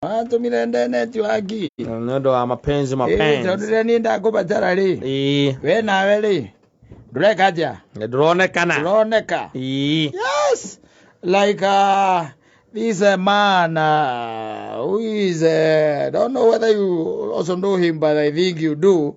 watũmire ndeneti waki nĩ ũndũ wa mapenzi tondũ mapenzi rĩrĩa niĩ ndakũbatara rĩ Ii, we nawe rĩ ndũreka atĩa nĩ ndũronekana ndũroneka Ii, yes like uh, this uh, man uh, who is uh, don't know whether you also know him but i think you do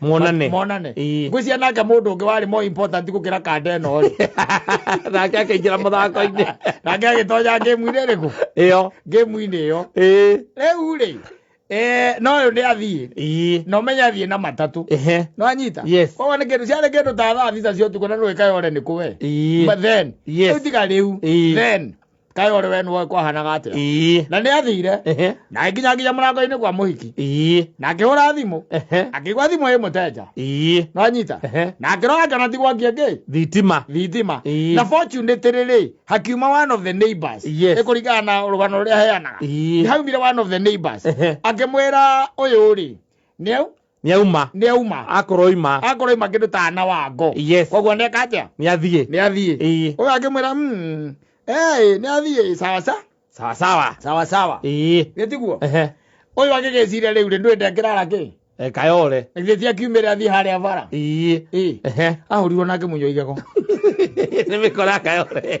Muonane. monane Ii. ngwĩcia nake mũndũ ũngĩ warĩ more important gũkĩra kanda ĩno rĩ nake akaingĩra mũthako-inĩ nake agĩtonya ngĩmu-inĩ ĩrĩkũ ĩyo ngĩmu-inĩ ĩyo ĩĩ rĩu rĩ eh, no ũyũ nĩ athiĩ ĩĩ na ũmenye athiĩ na matatũ ehe no anyita Yes. koguo nĩ kĩndũ ciarĩ kĩndũ ta thaa thita cia ũtukũ na nũĩkayore nĩ kũwe ĩĩ But then Yes. rĩu tiga rĩu Ĩĩ. then kaĩ ũrĩ we nĩwoĩ kwahanaga atĩa ii na nĩ athire ehe na agĩkinya nginya mũrango-inĩ kwa mũhiki ii na akĩhũra thimũ ehe akĩigua thimũ ĩ mũtenja ii no anyita Ehe. na akĩrora ngana tigwakia ngĩ thitima thitima Ĩĩ. na fortunately rĩ hakiuma one of the neighbors Yes. Nĩ kũringana na rũgano rũrĩa heanaga Ĩĩ. haumire one of the neighbors Ehe. akĩmwĩra ũyũ rĩ nĩ nĩauma nĩauma akorwo oima akorwo ima kĩndũ ta ana wa ngo Yes. koguo neka atĩa nĩathiĩ nĩathiĩ Ĩĩ. ũyũ akĩmwĩra "Mm, eh, nĩathiĩ sawa sa sawa sawa sawa sawa ĩĩ nĩtiguo ehe ũyũ agĩgĩciria rĩu rĩ ndwĩ ndekĩrara kĩ Eh, kayore githĩ ti akiumĩre athiĩ harĩa bara ĩĩ Ĩĩ. ehe ahũrirwo nake mũnyo igego nĩmĩkora kayore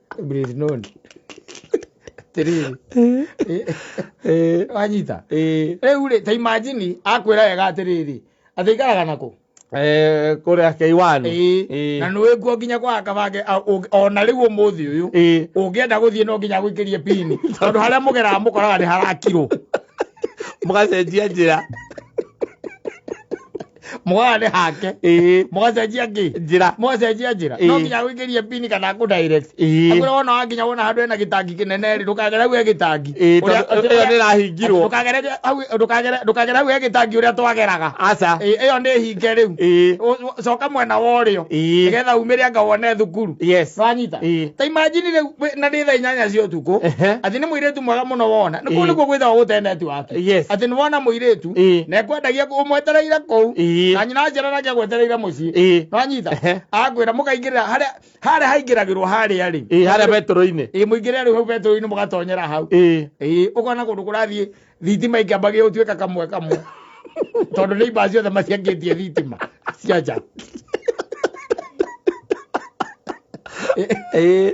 Brisnun. Tiriri. Eh, Wanyita. eh, Rĩu rĩ, ta imagine akwĩra wega atĩrĩrĩ. Atĩ ikaraga nako. eh, kũrĩa keiwani Ĩĩ. Na nĩ wĩkuo nginya kwa akabange a- ũ- ona rĩu ũmũthĩ ũyũ. Ĩĩ. Ũngĩenda gũthiĩ no nginya gũikĩrie pini. Tondũ harĩa mũgeraga mũkoraga nĩ harakirwo. mũgacenjia njĩra mwarĩ hake ĩĩ mwacenjia ngĩ njĩra mwacenjia njĩra Ĩĩ. no nginya gwĩkĩrie pini kana kũ direct Ĩĩ. agũra wona wakinya wona handũ hena gĩtangi kĩnene rĩ ndũkagere hau he gĩtangi Ĩĩ, Ũrĩa- tondũ ĩyo nĩrahingirwo. ndũkagere hau ndũkagere ndũkagere hau he gĩtangi ũrĩa twageraga aca Ĩĩ, ĩyo nĩ hinge rĩu ĩĩ Ũ- ũ- coka mwena wa ũrĩo Ĩĩ. nĩgetha umĩre anga wone thukuru yes wanyita Ĩĩ. ta imagine rĩu wĩ- na nĩ thaa inyanya cia ũtukũ Ehe. atĩ nĩ mũirĩtu mwega mũno wona nĩ kũu Ĩĩ. nĩkuo gwĩthagwo gũte netiwaki Yes. atĩ nĩ wona mũirĩtu Ĩĩ. na ekwendagia ũmwetereire kũu Ĩĩ. na nyina aciara nake agwetereire mũciĩ Ĩĩ. nĩwanyita Ehe. akwĩra mũkaingĩrĩra harĩa harĩa haingĩragĩrwo harĩa rĩ Ĩĩ, harĩa betũrũ-inĩ ĩĩ mũingĩrĩra rĩu hau betũrũ-inĩ mũgatonyera hau Ĩĩ. ĩĩ ũkona kũndũ kũrathiĩ thitima ikamba gĩgũtuĩka kamwe kamwe tondũ nĩ ibaa ciothe maciangĩtie thitima cia nja Ĩĩ.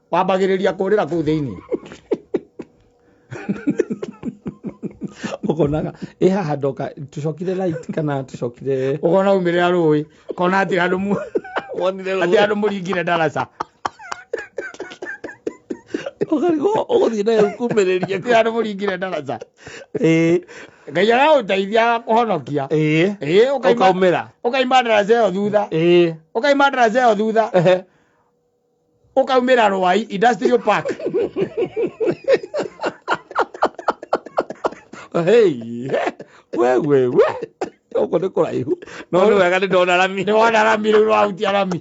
wambagĩrĩria kũrĩra kũu thĩinĩ ũkonaga ĩ haha ndoka tũcokire light kana tũcokire ũkona umĩrĩra rũĩ kona atĩ andũ mu wonire atĩ andũ mũringire ndaraca ũkarigwo ũgũthiĩ nayo kumĩrĩria atĩ andũ mũringire ndaraca ĩĩ ngai aragũteithia kũhonokia ĩĩ ĩĩ ũkaima- ũkaumĩra ũkaima ndaraca ĩyo thutha ĩĩ ũkaima ndaraca ĩyo thutha ehe ũkaumĩra rwai industrial park Hey, we we we ũkũ nĩ kũraihu no nĩ wega nĩ ndona rami nĩ wona rami rĩu rwahutia rami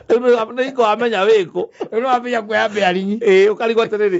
nĩ ikawamenya wĩkũ rĩu nĩwambia kuoya mbĩarinyi ĩĩ ũkarigwo atĩrĩrĩ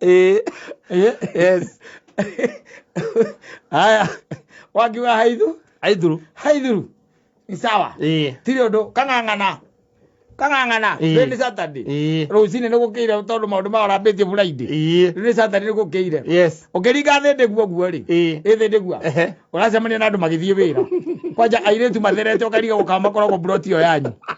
Eh, Eh, yes. Haya. Wakiwa haidhu, Aidhuru. haidhuru. Ni sawa. Eh. Tiri undu kang'ang'ana. Kang'ang'ana. Eh. Rĩu nĩ Saturday. Eh. Rũcinĩ nĩ gũkĩire tondũ maũndũ mao rambĩtie Friday. Eh. Rĩu nĩ Saturday nĩ gũkĩire. Yes. Ũkĩringa thĩ ndĩguo guo rĩ. Eh. Ĩthĩ ndĩguo. Ehe. Ũracemania na andũ magĩthiĩ wĩra. Kwanja airĩtu matherete ũkariga gũkamakoragwo mburoti ĩyo yanyu.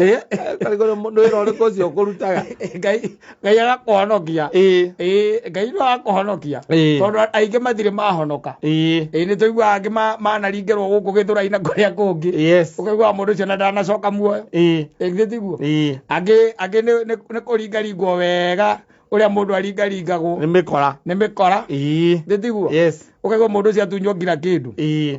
Eh, karigoro mundu wira uriku ucio ukurutaga eh, ngai ngai agakuhonokia ĩĩ ĩĩ ngai no agakuhonokia Ĩĩ. tondu aingi mathire mahonoka ĩĩ ĩĩ nĩ tũiguaga angĩ ma- manaringĩrwo gũkũ gĩthũrai na kũrĩa kũngĩ yes ũkaiguaga mũndũ ũcio na ndanacoka muoyo ĩĩ ĩngĩ tiguo ĩĩ angĩ angĩ nĩ- nĩ nĩ kũringaringwo wega ũrĩa mũndũ aringaringagwo nĩ mĩkora nĩ mĩkora ĩĩ ndĩtiguo yes ũkaigua mũndũ ũcio atunywo nginya kĩndũ ĩĩ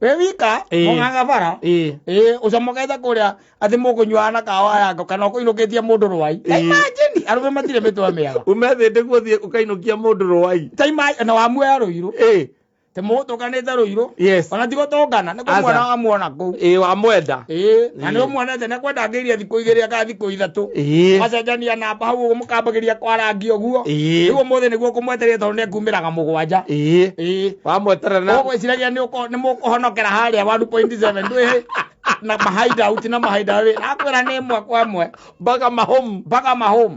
we wika Ĩĩ. mũng'ang'a bara ĩĩ ĩĩ ũcamũkete kũrĩa atĩ mũkũnyuaga na kawa yako kana ũkũinũkĩtie mũndũ rwai Ĩĩ. imagine arũme matirĩ mĩtwe mĩega umethĩte guothiĩ ũkainũkia mũndũ rũwai Ta imagine- na wamuoya rũirũ ĩĩ tĩ mũgũtũkanĩte rũirũ yes ona tigũtũngana nĩ Aca. kũmuona wamuona kũu ĩĩ wamwenda ĩĩ na Ĩĩ. nĩ ũmuonete nĩ kwenda ngĩirie thikũ igĩrĩ akathi thikũ ithatũ Ĩĩ. macenjania namba hau ũguo mũkambagĩria kwarangia ũguo Ĩĩ. rĩu ũmũthĩ nĩguo kũmwetereire tondũ nĩ kumĩraga mũgwanja ĩĩ ĩĩ wamweterera na ũgwĩciragia nĩ ũko- nĩ mũkũhonokera harĩa 1.7 ndwĩhĩ na mahaida uti na mahaida wĩ akwĩra nĩ ĩmwe kwa ĩmwe mpaka mahomu mpaka mahome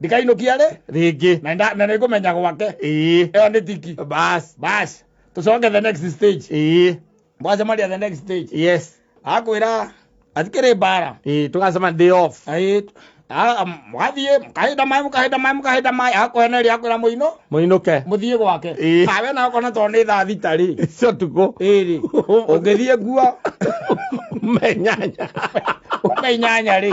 ndikainũkia rĩ rĩngĩ na nda- na nĩngũmenya gwake ĩĩ ĩyo nĩ tiki bas bas tũcoke the next stage ĩĩ mwacemaria the next stage yes akwĩra atikĩrĩ mbara ĩĩ tũgacema day off Aĩ- a- am- mwathiĩ mũkahinda maĩ mũkahinda maĩ mũkahinda maĩ akweneria akwĩra mũinũ mũinũke mũthiĩ gwake Ĩĩ. kawe na ũkona tondũ nĩ thaa thita rĩ cio tukũ ĩrĩ ũngĩthiĩ nguo menyanya ũkainyanya rĩ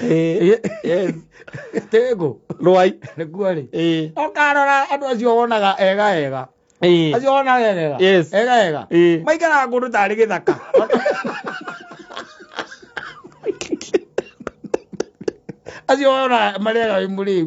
Eh, yes tengu Rwai. nĩguo rĩ Eh, ũkarora andũ acio wonaga ega ega eh, acio wonaga ega ega Yes. ega ega eh. maikaraga kũndũ tarĩ gĩthaka acio wonaga marĩaga wĩ mũrĩu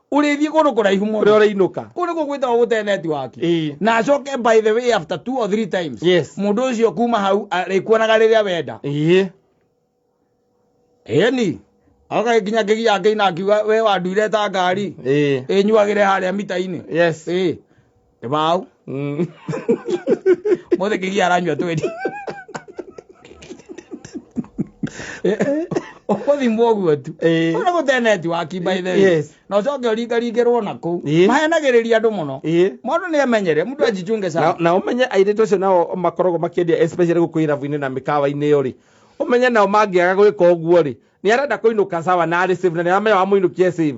ũrĩthiĩ kũndũ kũraihu mũno ũrĩa ũrainũka kũrĩ gũgwĩtagwo gũte netiwaki Ĩĩ. na acoke by the way after two or three times Yes. mũndũ ũcio kuma hau arĩkuonaga rĩrĩa wenda ĩĩ ĩni agagĩkinya kĩgia akĩina akiuga we wanduire ta ngari ĩĩ ĩnyuagĩre harĩa mita-inĩ yes ĩĩ Nĩ mau. Mm. Mũthĩ kĩgia aranyua twendi. Ũkũthimwo ũguo tu. Eh. Ũrĩa gũteneti wa kimba ithe. Yes. Na ũcoke ũringaringĩrwo na kũu. Eh. Mahenagĩrĩria andũ mũno. Eh. Mũndũ nĩ amenyere, mũndũ ajichunge na, sana. na ũmenye airĩtu acio nao makoragwo makĩendia especially gũkũ irabu-inĩ na mĩkawa-inĩ ĩyo rĩ ũmenye nao mangĩaga gwĩka ũguo rĩ nĩ arenda kũinũka sawa na arĩ save na nĩ aramenya wamũinũkia save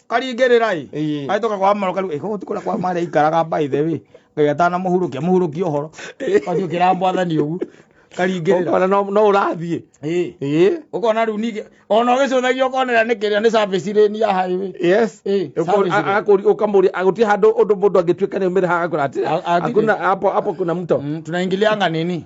karingĩrĩra ĩ Ĩĩ. agĩtoka kwa maro kariu ĩko ti kũrĩa kwa mara ikaraga by the way ngai atana mũhurũkia mũhurũkia ũhoro wathiĩ ũkĩra mwathani ũguo karingĩrĩra Ũkona no no ũrathiĩ ĩĩ ĩĩ ũkona rĩu ningĩ ona ũgĩcũthagia ũkonera nĩ kĩrĩa nĩ service lane ya highway yes Eh, Ũkori- service a- road. akori- ukamuri aguti handu undu mundu angituika ni umire haha akura ati A- atithi. hakuna hapo hapo kuna mto Mm, tunaingilia nganini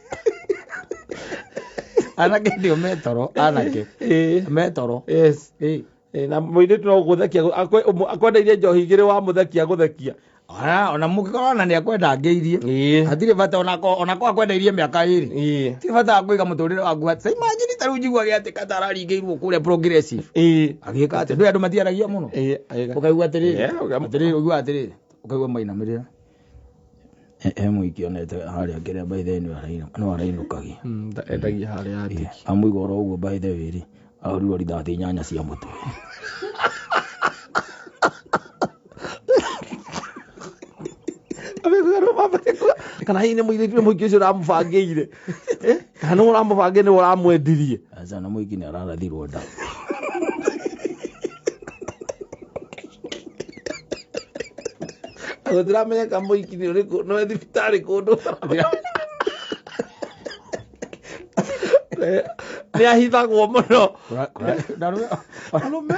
anake ndio metoro anake Eh, metoro yes Eh, Eh, na mũirĩtu no gũthekia akwe- ũmũ- akwendeirie njohi igĩrĩ wa mũthekia gũthekia ona ona mũngĩkorwo ona nĩ akwenda ngĩirie Ĩĩ. hatirĩ bata onako onako akwendeirie mĩaka ĩrĩ Ĩĩ. ti bata wa kũiga mũtũrĩre waku atĩ imagine tarĩu njiguage atĩ katararingĩirwo kũrĩa progressive Ĩĩ. agĩka atĩ ndũĩ andũ matiaragia mũno Ĩĩ, agĩka. ũkaigua atĩrĩrĩ Yeah, ũkam- atĩrĩrĩ ũigua atĩrĩrĩ ũkaigua mainamĩrĩra he mũingĩ onete harĩa ngĩrĩa by the way nĩwe arainũ- nĩwe arainũkagia Mm, nda- endagia harĩa andĩki amũiga oro ũguo by the way rĩ arurirwo rithathi nyanya cia mũtwe kana hihi nĩ mũirĩtu nĩ mũingĩ ũcio ũramũbangĩire Eh, kana nĩ ũramũbange nĩ ũramwendirie aca na mũingĩ nĩ ararathirwo nda gũtiramenyeka mũiki nĩ ũrĩkũ no e thibitarĩ kũndũ nĩ ahithagwo mũno Kũra- kũra- ndarũ- arũme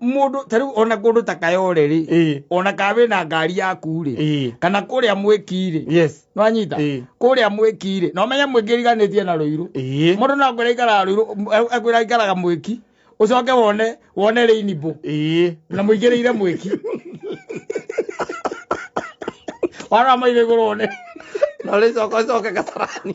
mũndũ tarĩu ona kũndũ ta kayore rĩ Ĩĩ. ona kaa wĩ na ngari yaku rĩ Ĩĩ. kana kũrĩa mwĩki rĩ yes nwanyita Ĩĩ. kũrĩa mwĩki rĩ no menye mwĩki riganĩtie na rũirũ Ĩĩ. mũndũ no kwĩra ikaraga rũirũ akwĩra ikaraga mwĩki ũcoke wone wone rĩinibũ Ĩĩ. na mũingĩrĩire mwĩki warora maitho igũrũ wone na ũrĩcoka ũcoke gatarani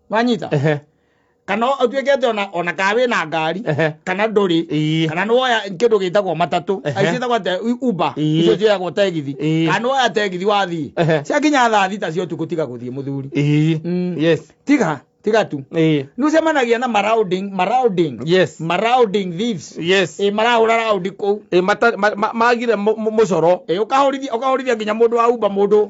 wanyita Ehe, kana ũtuĩke atĩ ona- ona kaa wĩ na ngari ehe. kana ndũrĩ Ii. kana nĩ woya kĩndũ gĩtagwo matatũ Ehe. aici ĩtagwo atĩ u- uber Ii. icio ciĩyagwo tegithi Ii. kana nĩ woya tegithi wathiĩ Ehe. ciakinya thaa thita cia ũtukũ tiga gũthiĩ mũthuri Ii. Mm. Yes. tiga tiga tu Ii. nĩ ũcemanagia na maraunding maraunding Yes. maraunding thieves Yes. ĩ marahũra raundi kũu Ĩ, mata- ma- ma- magire mũ- mũ- mũcoro Ĩ, ũkahũrithia ũkahũrithia nginya mũndũ wa umba mũndũ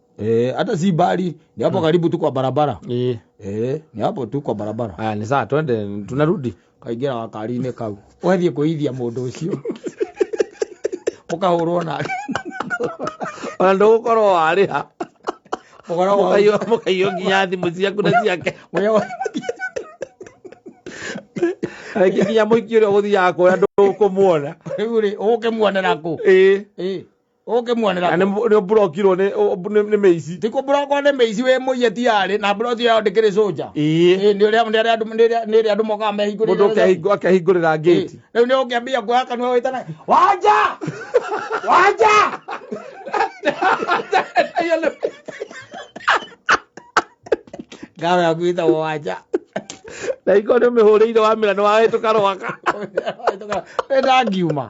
Eh, hata si bali ni hapo karibu tu kwa barabara Eh, eh, ni hapo tu kwa barabara haya ni sawa twende tunarudi kaingĩra gakarinĩ kau wathiĩ kũithia mũndũ ũcio ũkahũrwo na ona ndũgũkorwo warĩha ũkoragwo Mũkaiyũ- mũkaiyũ nginya thimũ ciaku na ciake ũrĩa wa- rĩngĩ nginya mũingĩ ũrĩa ũgũthiaga kuoya ndũkũmuona rĩu rĩ ũgũkĩmuonera kũ Ĩĩ. Ĩĩ. ũngĩmuonera na kũ? nä mburokirwo nä mä ici ti kũmburokwo nĩ mĩici wĩ mũiye tiarĩ na mburoti yao ndĩkĩrĩ soja ä Ĩ, nĩ ũrĩa nĩ arĩa andũ- nĩ arĩa- nĩ arĩa andũ mokaga må ndå mehingũrĩire akehingå rä ra ngäti rä u nä å ngä ambia kuoya kanua wä tana wanja wanja ngawe yaku ĩtagwo wanja na ingå nä mä hå rä ire wamä ra nä wahä tå karwaka nä ndangiuma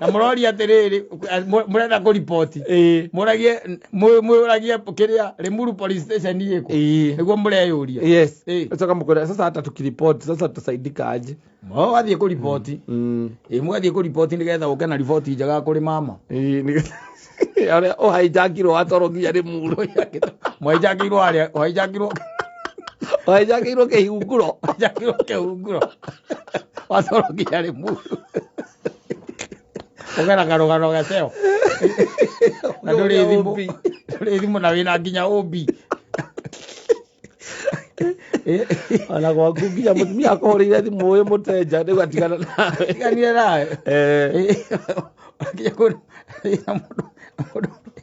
na mũroria atĩrĩrĩ eh, mũ- mũrenda kũriboti ĩĩ mũragie mũ- mũragie kĩrĩa rimuru police station ĩkũ ĩĩ nĩguo mũreyũria yes Ĩĩ. ũcoka mũkwĩra sasa hata tukiripoti sasa tutasaidika aje o wathiĩ kũriboti Mm. ĩ mũgathiĩ kũriboti nĩgetha ũke na riboti njega kũrĩ mama Ĩĩ, nĩ- arĩa ũhaijakirwo watwarwo nginya rĩ muro mwainjakirwo harĩa wainjakirwo ũhaijakirwo kĩhingũro wainjakirwo kĩhunguro watwarwo nginya rĩ muru ũgera karũgano gaceo na ndũrĩ thimũ ndũrĩ thimũ na wĩna nginya ũmbi ona gwaku nginya mũtumia akũhũrĩire thimũ ũyũ mũtenja rĩu atigana nawe tiganire nawe Eh, nginya kũrĩ na mũndũ mũndũ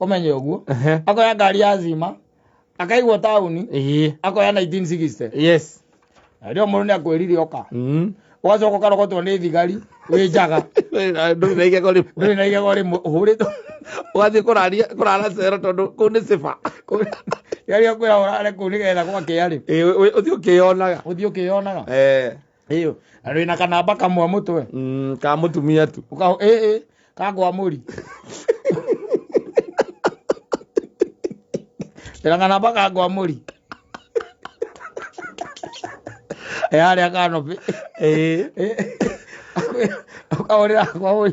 ũmenye ũguo Ehe. akoya ngari ya zima akaigwo taũni Ĩĩ. akoya 1960 yes Na rĩo mũndũ nĩ akwĩrire oka Mm. ũgacoka ũkarogotwo nĩ thigari wĩ njaga ndũrĩ na igego rĩmwe ndũrĩ na igego rĩmwe ũhũrĩtwo ũgathiĩ kũraria kũrara cero tondũ kũu nĩ siba yaria kwĩra ũrare kũu nĩgetha gwakĩa rĩ ũthiĩ ũkĩyonaga ũthiĩ ũkĩyonaga Eh. ĩyo na wĩna kanamba kamwe mũtwe mm, ka mũtumia tu Uka, ĩ, ĩ, kagwa mũri wĩna kanamba kagwa mũri ĩ harĩa kanobi Ĩĩ. ũkahũrĩra kwa mũri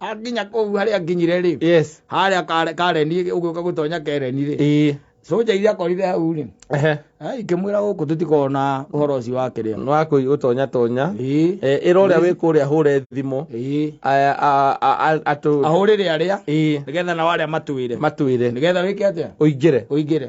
akinya kũu harĩa nginyire rĩ yes harĩa kare- kareni ũgĩũka gũtonya kereni rĩ ĩĩ soja iria akorire hau rĩ ehe eh, ikĩmwĩra gũkũ tũtikona ũhoro ũcio wa kĩrĩa nĩ wa kũi ũtonya tonya Ĩĩ, Eh, ĩra ũrĩa wĩ kũrĩa hũre thimũ ĩĩ. A- a- a- a- atũ ahũrĩre arĩa ĩĩ nĩgetha nao arĩa matwĩre matwĩre nĩgetha wĩke atĩa ũingĩre ũingĩre